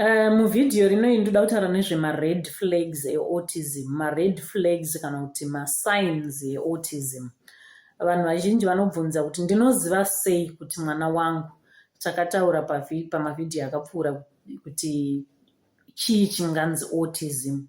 Eh, muvhidhiyo rino iyi ndoda kutaura nezvemared flags eautism mared flags kana kuti masigns eautism vanhu vazhinji vanobvunza kuti ndinoziva sei kuti mwana wangu takataura pamavhidhiyo akapfuura kuti chii chinganzi autism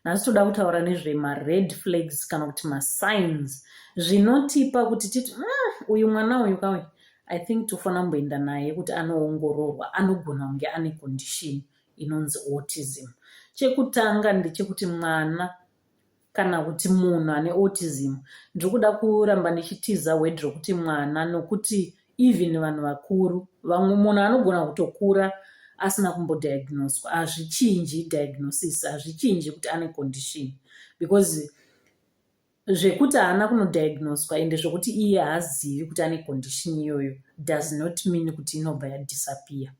nhasi toda kutaura nezvemared flags kana kuti masigns zvinotipa kuti titi mm, uyu mwana uyu kauyu i think tofanira kumboenda naye kuti anoongororwa anogona kunge ane condition inonzi autism chekutanga ndechekuti mwana kana kuti munhu ane autism ndiri kuda kuramba ndichitiza word rokuti mwana nokuti even vanhu vakuru vamwe munhu anogona kutokura asina kumbodiagnoswa hazvichinji diagnosis hazvichinji kuti ane condition because zvekuti haana kunodiagnoswa ende zvekuti iye haazivi kuti ane condition iyoyo does not mean kuti inobva yadisappear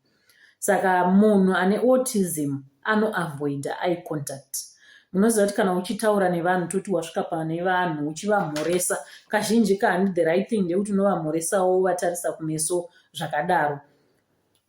saka munhu ane autism anoavoida eye contact munoziva kuti kana uchitaura nevanhu toti wasvika pane vanhu uchivamhoresa kazhinji kahandi the right thing ndekuti unovamhoresawo wovatarisa kumeso zvakadaro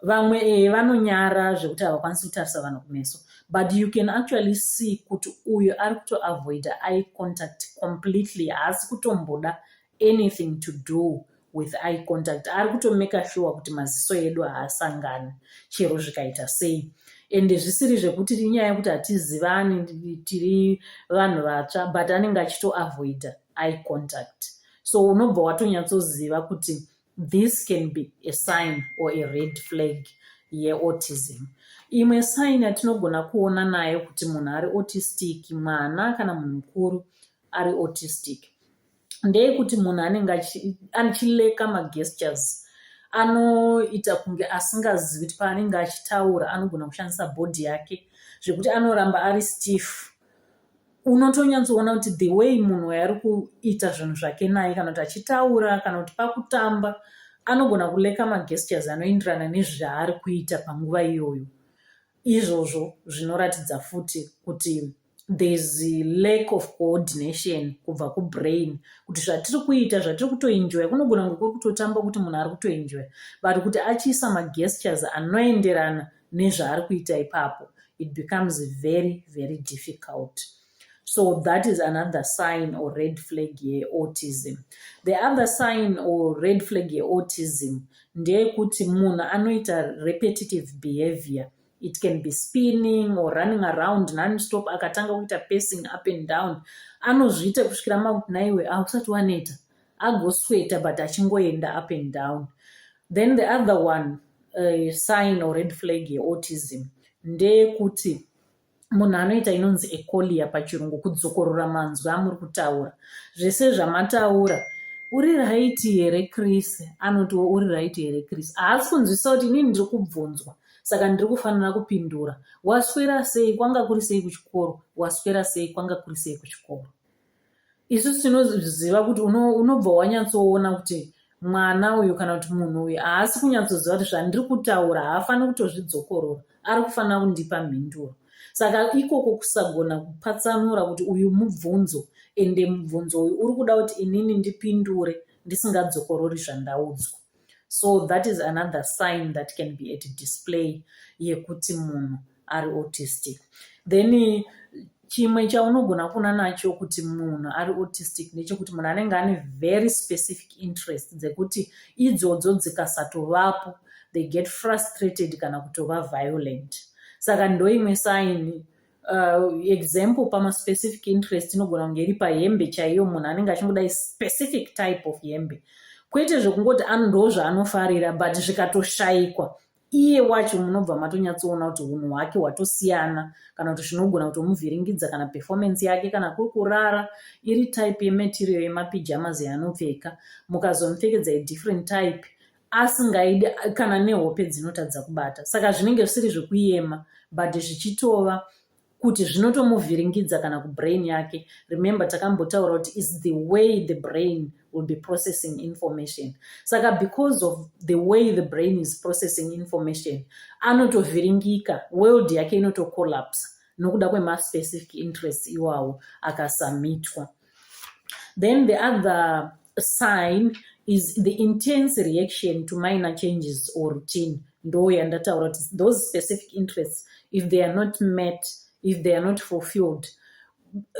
vamwe e vanonyara zvekuti havakwanisi kutarisa vanhu kumeso but you can actually see kuti uyo ari kutoavoida eye contact completely haasi kutomboda anything to do with eye contact ari kutomaker sure kuti maziso edu haasangani chero zvikaita sei ende zvisiri zvekuti inyaya yekuti hatizivani tiri vanhu vatsva but anenge achitoavoida eye contact so unobva watonyatsoziva kuti this can be a sign or a red flag yeautism imwe sign yatinogona kuona nayo kuti munhu ari autistic mwana kana munhu mukuru ari autistic ndeyekuti munhu anenge achileka magestures anoita kunge asingazivi kuti paanenge achitaura anogona kushandisa bhodhi yake zvekuti anoramba ari stiff unotonyatsoona kuti the way munhu waye ari kuita zvinhu zvake naye kana kuti achitaura kana kuti pakutamba anogona kuleka magestures anoenderana nezvaari kuita panguva iyoyo izvozvo zvinoratidza futi kuti there's a lack of coordination kubva kubrain kuti zvatiri kuita zvatiri kutoenjoya kunogona kunge kuri kutotamba kuti munhu ari kutoenjoya but kuti achiisa magestures anoenderana nezvaari kuita ipapo it becomes very very difficult so that is another sign or red flag yeautism the other sign or red flag yeautism ndeyekuti munhu anoita repetitive behavior it can be spinning or running around nonstop akatanga kuita pacing up and down anozviita kusvikira makuti naiwe hausati waneta agosweta but achingoenda up and down then the other one uh, sign or red flag yeautism ndeyekuti munhu anoita inonzi ecolia pachirungu kudzokorora manzwi amuri kutaura zvese zvamataura uri raiti here chris anotiwo uri raiti here chris haasi kunzwisisa kuti inini ndiri kubvunzwa saka ndiri kufanira kupindura waswera sei kwanga kuri sei kuchikoro waswera sei kwanga kuri sei kuchikoro isusu tinoziva kuti unobva wanyatsoona kuti mwana uyu kana kuti munhu uyu haasi kunyatsoziva kuti zvandiri kutaura haafaniri kutozvidzokorora ari kufanira kundipa mhinduro saka ikoko kusagona kupatsanura kuti uyu mubvunzo ende mubvunzo uyu uri kuda kuti inini ndipindure ndisingadzokorori zvandaudzwa so that is another sign that can be at display yekuti munhu ari autistic then chimwe chaunogona kuona nacho kuti munhu ari autistic nechekuti munhu anenge ane very specific interest dzekuti idzodzo dzikasatovapo they get frustrated kana kutova violent saka ndoimwe saini Uh, example pama specific interest inogona kunge iri pahembe chaiyo munhu anenge achingoda specific type of hembe kwete zvekungoti ndo zvaanofarira but zvikatoshaikwa iye wacho munobva matonyatsoona kuti unhu hwake hwatosiyana kana kuti zvinogona kutomuvhiringidza kana performance yake kana kuri kurara iri type yematerial yemapijamas yaanopfeka mukazomupfekedza idifferent type asingaidi kana nehope dzinotadza kubata saka zvinenge zvisiri zvekuyema but zvichitova kuti zvinotomuvhiringidza kana kubrain yake remember takambotaura kuti is the way the brain will be processing information saka because of the way the brain is processing information anotovhiringika world yake inotocollapse nokuda kwemaspecific interest iwawo akasamitwa then the other sign is the intense reaction to minor changes or routine ndo yandataura kuti those specific interests if they are not met if they are not fulfilled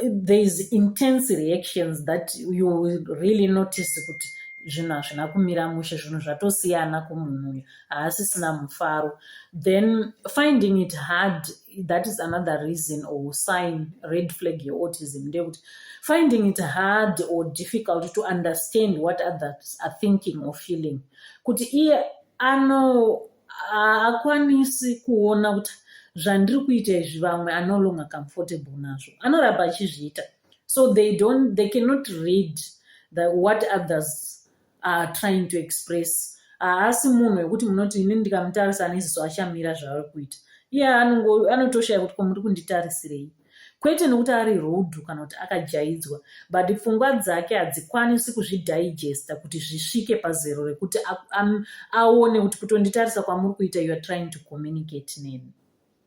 there is intense reactions that you will really notice kuti zvinhu hazvina kumira mushe zvinhu zvatosiyana kumunhu uyu haasisina mufaro then finding it hard that is another reason or sign red flag yeautism ndeyekuti finding it hard or difficult to understand what others are thinking or feeling kuti iye ano haakwanisi kuona kuti zvandiri kuita izvi vamwe anolonga comfortable nazvo anoramba achizviita so they don't they cannot read the what others are trying to express haasi munhu wekuti munoti ini ndikamutarisa aneziso achamira zvaari kuita iye anotoshaya kuti komuri kunditarisirei kwete nokuti ari rudhu kana kuti akajaidzwa but pfungwa dzake hadzikwanisi kuzvidigesta kuti zvisvike pazero rekuti aone kuti kutonditarisa kwamuri kuita youare trying to communicate neni